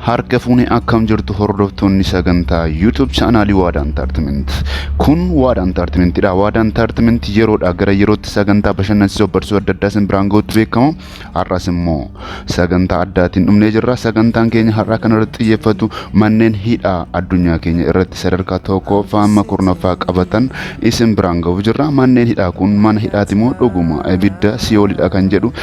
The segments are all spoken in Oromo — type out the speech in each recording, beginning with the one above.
Harka fuune akkam jirtu hordoftoonni sagantaa YouTube chaanaalii Waadaa Intaartimenti. Kun Waadaa Intaartimentidha. Waadaa Intaartimenti yeroodha gara yerootti sagantaa bashannansiisoo barsiisoo adda addaa isin biraan gahuutti beekama. Har'as immoo sagantaa addaatiin dhumnee jirra. Sagantaan keenya har'aa kana irratti xiyyeeffatu manneen hidhaa addunyaa keenya irratti sadarkaa tokkoffaa amma kurnaffaa qabatan isin biraan gahuuf jirra. Manneen hidhaa kun mana hidhaati moo dhuguma ibidda siyoolidha kan jedhu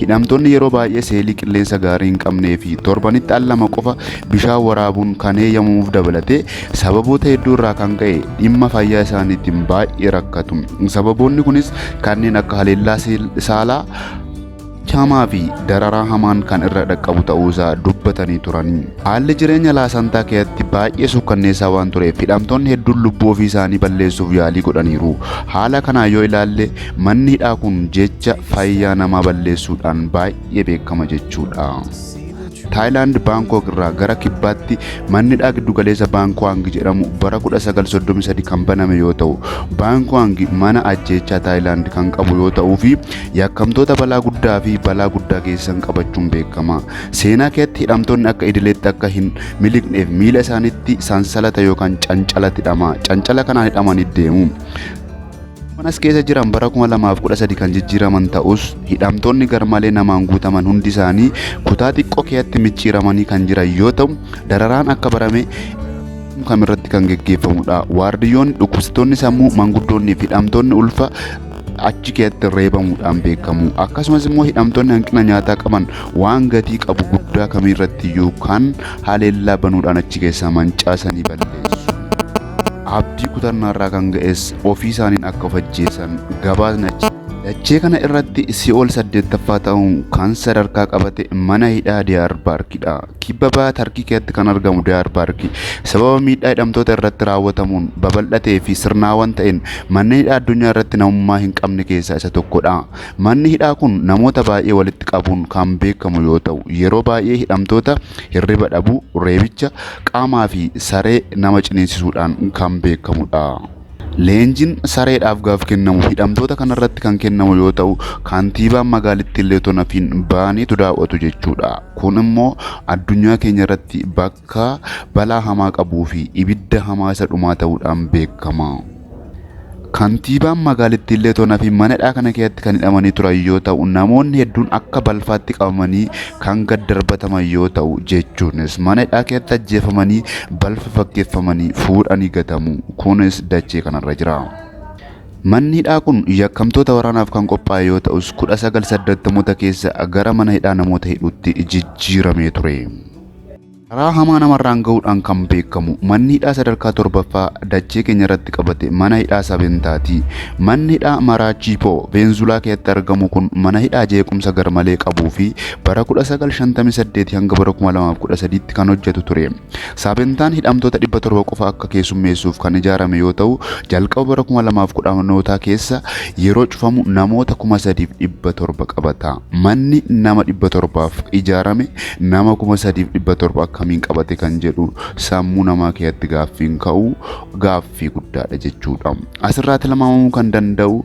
Hidhamtoonni yeroo baay'ee seelii qilleensa gaarii hin qabnee fi torbanitti al lama qofa bishaan waraabuun kan heeyyamamuuf dabalatee sababoota hedduu irraa kan ka'e dhimma fayyaa isaaniitiin baay'ee rakkatu. Sababoonni kunis kanneen akka haleellaa saalaa hamaa fi dararaa hamaan kan irra dhaqqabu ta'uu isaa dubbatanii turani. Haalli jireenya Laasantaa keessatti baay'ee suukkanneessaa waan tureef hidhamtoonni hedduun lubbuu ofii isaanii balleessuuf yaalii godhaniiru. Haala kanaan yoo ilaalle manni hidhaa kun jecha fayyaa namaa balleessuudhaan baay'ee beekama jechuudha. Taayilaand Baankook irraa gara kibbaatti manni hidhaa giddugaleessa Baankuwaangi jedhamu bara 1933 kan baname yoo ta'u, Baankuwaangi mana ajjeechaa Taayilaand kan qabu yoo ta'uu fi yakkamtoota balaa guddaa fi balaa guddaa geessisan qabachuun beekama. Seenaa keessatti hidhamtoonni akka idileetti akka hin miliqneef miila isaaniitti sansalata yookaan cancala hidhama. Cancala kanaan hidhamanii deemu. Manas keessa jiran bara 2013 kan jijjiiraman ta'us hidhamtoonni garmalee namaan guutaman hundi isaanii kutaa xiqqoo keessatti micciiramanii kan jiran yoo ta'u dararaan akka barame kam irratti kan geggeeffamudha. Waardiyyoonni dhukkubsattoonni sammuu manguddoonni fi hidhamtoonni ulfa achi keessatti reebamuudhaan beekamu. Akkasumas immoo hidhamtoonni hanqina nyaataa qaban waan gatii qabu guddaa kamiirratti iyyuu kan haleellaa banuudhaan achi keessaa mancaasanii balleessu. Abdii kutannaarraa kan ga'es ofii isaaniin akka of ajjeesan gabaasni achi Dachee kana irratti si'ool saddeettaffaa ta'uun kan sadarkaa qabate mana hidhaa Diyaar Baarkidha. Kibba baha Tarkii keessatti kan argamu Diyaar Baarki sababa miidhaa hidhamtoota irratti raawwatamuun babal'atee fi sirnaawaan ta'een manneen hidhaa addunyaa irratti namummaa hin qabne keessaa isa tokkodha. Manni hidhaa kun namoota baay'ee walitti qabuun kan beekamu yoo ta'u, yeroo baay'ee hidhamtoota hirriba dhabuu, reebicha qaamaa fi saree nama ciniinsisuudhaan kan beekamudha. Leenjiin sareedhaaf gaaf kennamu hidhamtoota kanarratti kan kennamu yoo ta'u, kantiibaan magaalittiillee otoo nafiin ba'aniitu daaw'atu jechuudha. Kun immoo addunyaa keenya irratti bakka balaa hamaa qabuu fi ibidda hamaa isa dhumaa ta'uudhaan beekama. Kantiibaan magaalittiillee toonaa fi mana hidhaa kana keessatti kan hidhamanii turan yoo ta'u namoonni hedduun akka balfaatti qabamanii kan gad darbataman yoo ta'u jechuunis mana hidhaa keessatti ajjeefamanii balfa fakkeeffamanii fuudhanii gatamu kunis dachee kanarra jira. Manni hidhaa kun yakkamtoota waraanaaf kan qophaa'e yoo ta'us 1980moota keessa gara mana hidhaa namoota hidhuutti jijjiiramee ture. Karaa hamaa namarraan gahuudhaan kan beekamu manni hidhaa sadarkaa torbaffaa dachee keenyarratti qabate mana hidhaa Sabintaati. Manni hidhaa Maraachipo, Veenzuulaa keessatti argamu kun mana hidhaa jeequmsa garmalee qabuu fi bara 1958 hanga bara 2013tti kan hojjetu ture. Sabintaan hidhamtoota 700 qofa akka keessummeessuuf kan ijaarame yoo ta'u, jalqaba bara 2010nootaa keessa yeroo cufamu namoota 3,700 qabata. Manni nama 700f ijaarame Nama kuma sadiif dhibba torba akkamiin qabate kan jedhu sammuu namaa keessatti gaaffiin ka'u gaaffii guddaadha jechuudha. Asirraa tilmaamamuu kan danda'u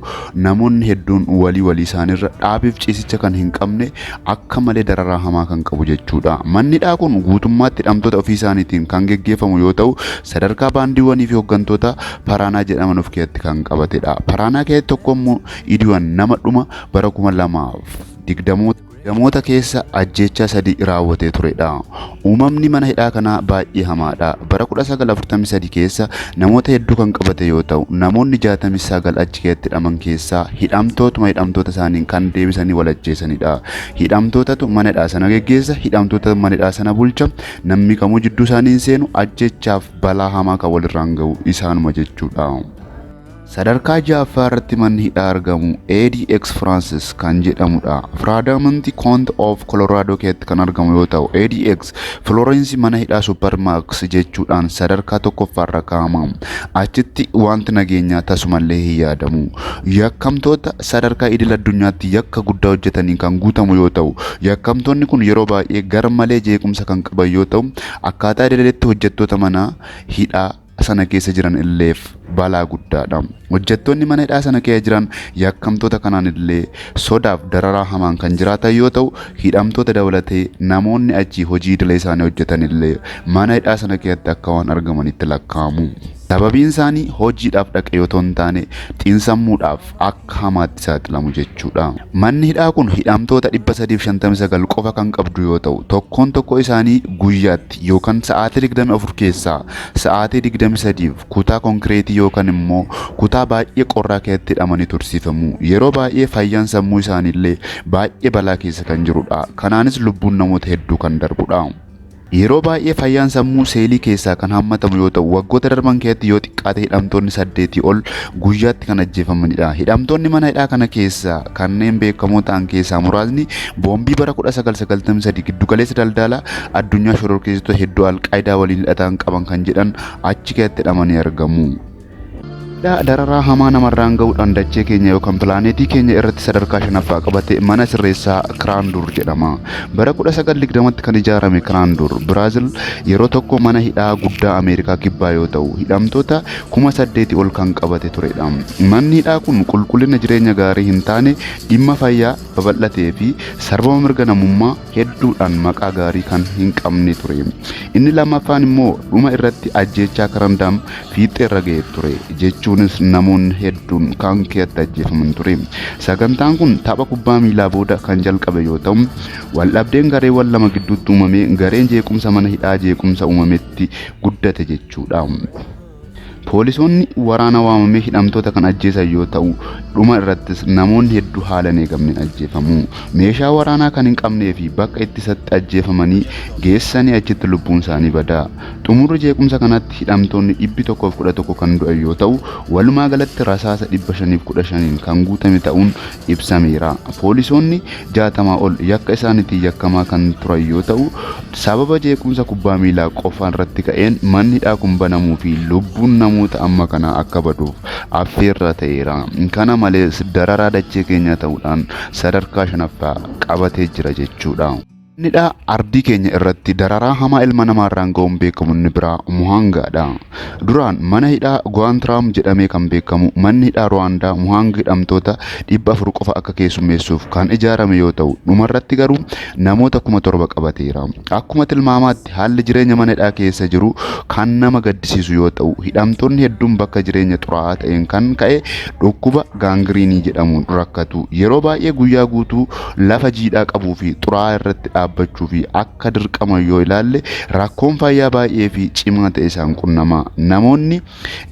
namoonni hedduun walii walii isaaniirra dhaabiif ciisicha kan hin qabne akka malee dararaa hamaa kan qabu jechuudha. Manni hidhaa kun guutummaatti hidhamtoota ofii isaaniitiin kan geggeeffamu yoo ta'u sadarkaa baandiiwwanii fi hooggantoota Paraanaa jedhaman of keessatti kan qabatedha. Paraanaa keessatti tokko immoo Idiwan nama dhuma bara kuma lamaaf digdamoota Gamoota keessa ajjeechaa sadii raawwatee turedha. Uumamni mana hidhaa kanaa baay'ee hamaadha. Bara 1943 keessa namoota hedduu kan qabate yoo ta'u, namoonni 69 achi keessatti hidhaman keessaa hidhamtootuma hidhamtoota isaaniin kan deebisanii wal ajjeesanidha. Hidhamtootatu mana hidhaa sana geggeessa, hidhamtootatu mana hidhaa sana bulcha, namni kamuu jidduu isaanii hin seenu, ajjeechaaf balaa hamaa kan walirraan ga'u isaanuma jechuudha. Sadarkaa ja'affaa irratti manni hidhaa argamu ADX Francis kan jedhamudha. Firaadamanti Koont of Colorado keessatti kan argamu yoo ta'u, ADX Florence mana hidhaa Supermax jechuudhaan sadarkaa tokkoffaarra kaa'ama. Achitti wanti nageenyaa tasumallee hin yaadamu. Yakkamtoota sadarkaa idil addunyaatti yakka guddaa hojjetaniin kan guutamu yoo ta'u, yakkamtoonni kun yeroo baay'ee garmalee jeequmsa kan qaban yoo ta'u, akkaataa idileetti hojjettoota manaa hidhaa sana keessa jiran illeef balaa guddaadha. Hojjettoonni mana hidhaa sana keessa jiran yakkamtoota kanaan illee sodaaf dararaa hamaan kan jiraatan yoo ta'u, hidhamtoota dabalatee namoonni achii hojii idilee isaanii hojjetan illee mana hidhaa sana keessatti akka waan argamanitti lakkaa'amu. Sababiin isaanii hojiidhaaf dhaqe yoo ta'u hin taane xiinsammuudhaaf akka hamaatti saaxilamu jechuudha. Manni hidhaa kun hidhamtoota 359 qofa kan qabdu yoo ta'u, tokkoon tokkoo isaanii guyyaatti keessatti yookaan sa'aatii 24 keessaa sa'aatii 23f kutaa konkireetii yookaan immoo kutaa baay'ee qorraa keessatti hidhamanii tursiifamu. Yeroo baay'ee fayyaan sammuu isaaniillee baay'ee balaa keessa kan jirudha. Kanaanis lubbuun namoota hedduu kan darbudha. Yeroo baay'ee fayyaan sammuu seelii keessaa kan hammatamu yoo ta'u, waggoota darban keessatti yoo xiqqaate hidhamtoonni saddeetii ol guyyaatti kan ajjeefamanidha. Hidhamtoonni mana hidhaa kana keessaa Kanneen beekamoo ta'an keessaa muraasni boombii bara 1993 giddugaleessa daldalaa addunyaa shororkeessitoota hedduu Alqaayidaa waliin hidhataan qaban kan jedhan achi keessatti hidhamanii argamu. Hidhaa dararaa hamaa namarraan ga'uudhaan dachee keenya yookaan pilaaneetii keenya irratti sadarkaa shanaffaa qabate mana sirreessaa Kiraanduur jedhama. Bara 1920tti kan ijaarame Kiraanduur, Biraazil yeroo tokko mana hidhaa guddaa Ameerikaa Kibbaa yoo ta'u, hidhamtoota kuma saddeeti ol kan qabate turedha. Manni hidhaa kun qulqullina jireenya gaarii hin taane, dhimma fayyaa babal'atee fi sarbama mirga namummaa hedduudhaan maqaa gaarii kan hin qabne ture. Inni lammaffaan immoo dhuma irratti ajjeechaa Karandaam fiixxee irra ga'e ture, jechuunis namoonni hedduun kan keetti ajjeefaman ture. Sagantaan kun tapha kubbaa miilaa booda kan jalqabe yoo ta'u, waldhabdeen gareewwan lama gidduutti uumamee gareen jeequmsa mana hidhaa jeequmsa uumame itti guddate jechuudha. Poolisoonni waraana waamamee hidhamtoota kan ajjeesan yoo ta'u, dhuma irrattis namoonni hedduu haala hin eegamneen ajjeefamu. Meeshaa waraanaa kan hin qabnee fi bakka ittisatti ajjeefamanii geessanii achitti lubbuun isaanii bada. Xumurri jeequmsa kanatti hidhamtoonni 111 kan du'an yoo ta'u, walumaa galatti rasaasa 515n kan guutame ta'uun ibsameera. Poolisoonni 60 ol yakka isaaniitiin yakkamaa kan turan yoo ta'u, sababa jeequmsa kubbaa miilaa qofaan irratti ka'een manni hidhaa kun banamuu fi lubbuun namoota amma kanaa akka baduuf affeerraa ta'eera. Kana malees dararaa dachee keenyaa ta'uudhaan sadarkaa shanaffaa qabatee jira jechuudha. Nidhaa ardii keenya irratti dararaa hamaa ilma namaa irraan ga'uun beekamu inni biraa Muhaangaadha. Duraan mana hidhaa Guwaantiraam jedhamee kan beekamu manni hidhaa Ruwaandaa Muhaang hidhamtoota 400 qofa akka keessummeessuuf kan ijaarame yoo ta'u dhumarratti garuu namoota 7,000 qabateera. Akkuma tilmaamaatti Haalli jireenya mana hidhaa keessa jiru kan nama gaddisiisu yoo ta'u, hidhamtoonni hedduun bakka jireenya xuraa'aa ta'een kan ka'e dhukkuba gaangiriinii jedhamuun rakkatu. Yeroo baay'ee guyyaa guutuu lafa jiidhaa qabuu fi xuraa'aa irratti dhaabbachuu fi akka dirqaman yoo ilaalle rakkoon fayyaa baay'ee fi cimaa ta'e isaan qunnama. Namoonni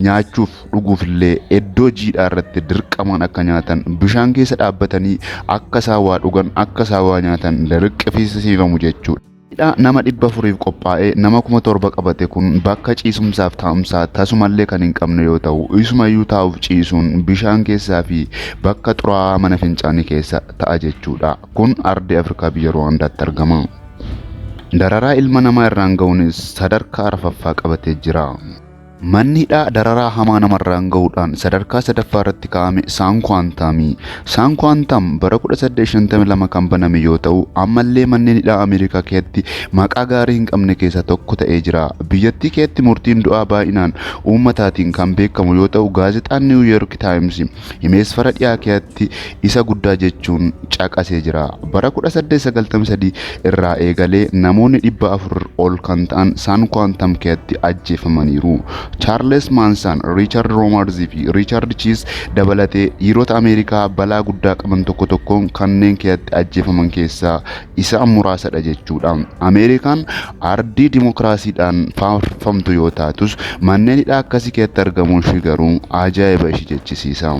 nyaachuuf dhuguuf illee iddoo jiidhaa irratti dirqamaan akka nyaatan, bishaan keessa dhaabbatanii akka isaan waa dhugan, akka isaan waa nyaatan dirqisiisifamu jechuudha. Hidha nama 400f qophaa'e nama 7000 qabate kun bakka ciisumsaaf taa'umsaa tasumallee kan hin qabne yoo ta'u, isumayyuu taa'uuf ciisuun bishaan keessaa fi bakka xuraa'aa mana fincaanii keessa ta'a jechuudha. Kun ardii Afrikaa biyya Ruwaandaatti argama. Dararaa ilma namaa irraan gahuunis sadarkaa arfaffaa qabatee jira. Manni hidhaa dararaa hamaa namarraan gahuudhaan sadarkaa sadaffaa irratti kaa'ame Saan Kuwaantaami. Saan Kuwaantaam bara 1852 kan baname yoo ta'u, ammallee manneen hidhaa Ameerikaa keessatti maqaa gaarii hin qabne keessaa tokko ta'ee jira. Biyyattii keessatti murtiin du'aa baay'inaan uummataatiin kan beekamu yoo ta'u, gaazexaan Niiwu Yoorki Taayimsi Himeesfara Dhiyaa keeatti isa guddaa jechuun caqasee jira. Bara 1893 irraa eegalee namoonni 400 ol kan ta'an Saan Kuwaantam keeatti ajjeefamaniiru. Chaarles Maansaan, Riichard Roomarz fi Riichard Chiis dabalatee dhiirota Ameerikaa balaa guddaa qaban tokko tokkoon kanneen keeatti ajjeefaman keessaa isaan muraasadha jechuudha. Ameerikaan ardii dimokiraasiidhaan faarfamtu yoo taatus manneen hidhaa akkasii keessatti argamuun ishii garuu ajaa'iba ishii jechisiisa.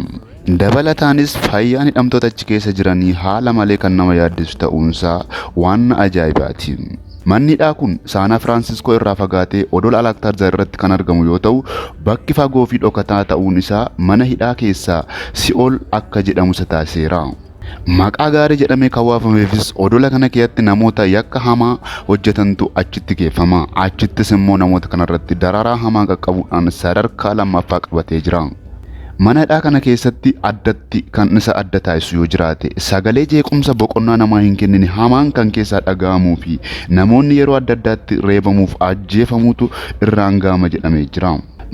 Dabalataanis fayyaan hidhamtoota achi keessa jiranii haala malee kan nama yaaddisu ta'uunsaa waan ajaa'ibaati. Manni hidhaa kun Saanaa Firaansiskoo irraa fagaatee odola Alaaktaarzaar irratti kan argamu yoo ta'u, bakki fagoo fi dhokataa ta'uun isaa mana hidhaa keessaa si'ool akka jedhamu isa taasiseera. Maqaa gaarii jedhamee kan waafameefis odola kana keessatti namoota yakka hamaa hojjetantu achitti geeffama. Achittis immoo namoota kanarratti dararaa hamaa qaqqabuudhaan sadarkaa lammaffaa qabatee jira. Mana hidhaa kana keessatti addatti kan isa adda taasisu yoo jiraate sagalee jeequmsa boqonnaa namaa hin kennine hamaan kan keessaa dhaga'amuu fi namoonni yeroo adda addaatti reebamuuf ajjeefamuutu irraan ga'ama jedhamee jira.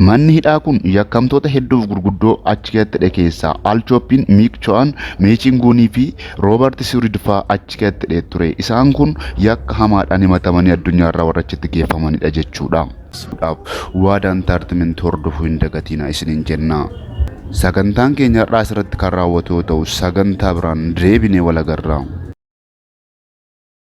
Manni hidhaa kun yakkamtoota hedduuf gurguddoo achi keessatti hidhe keessaa Al Chooppiin, Miik Cho'an, Meechiin Guunii fi Roobarti Siwurid fa'aa achi keessatti hidhee ture. Isaan kun yakka hamaadhaan himatamanii addunyaarraa warra achitti geeffamanidha jechuudha. suudhaaf waadaa intaartimentii hordofuu hin dagatiina isiniin jenna. Sagantaan keenya har'aa asirratti kan raawwatu yoo ta'u sagantaa biraan deebinee wal agarra.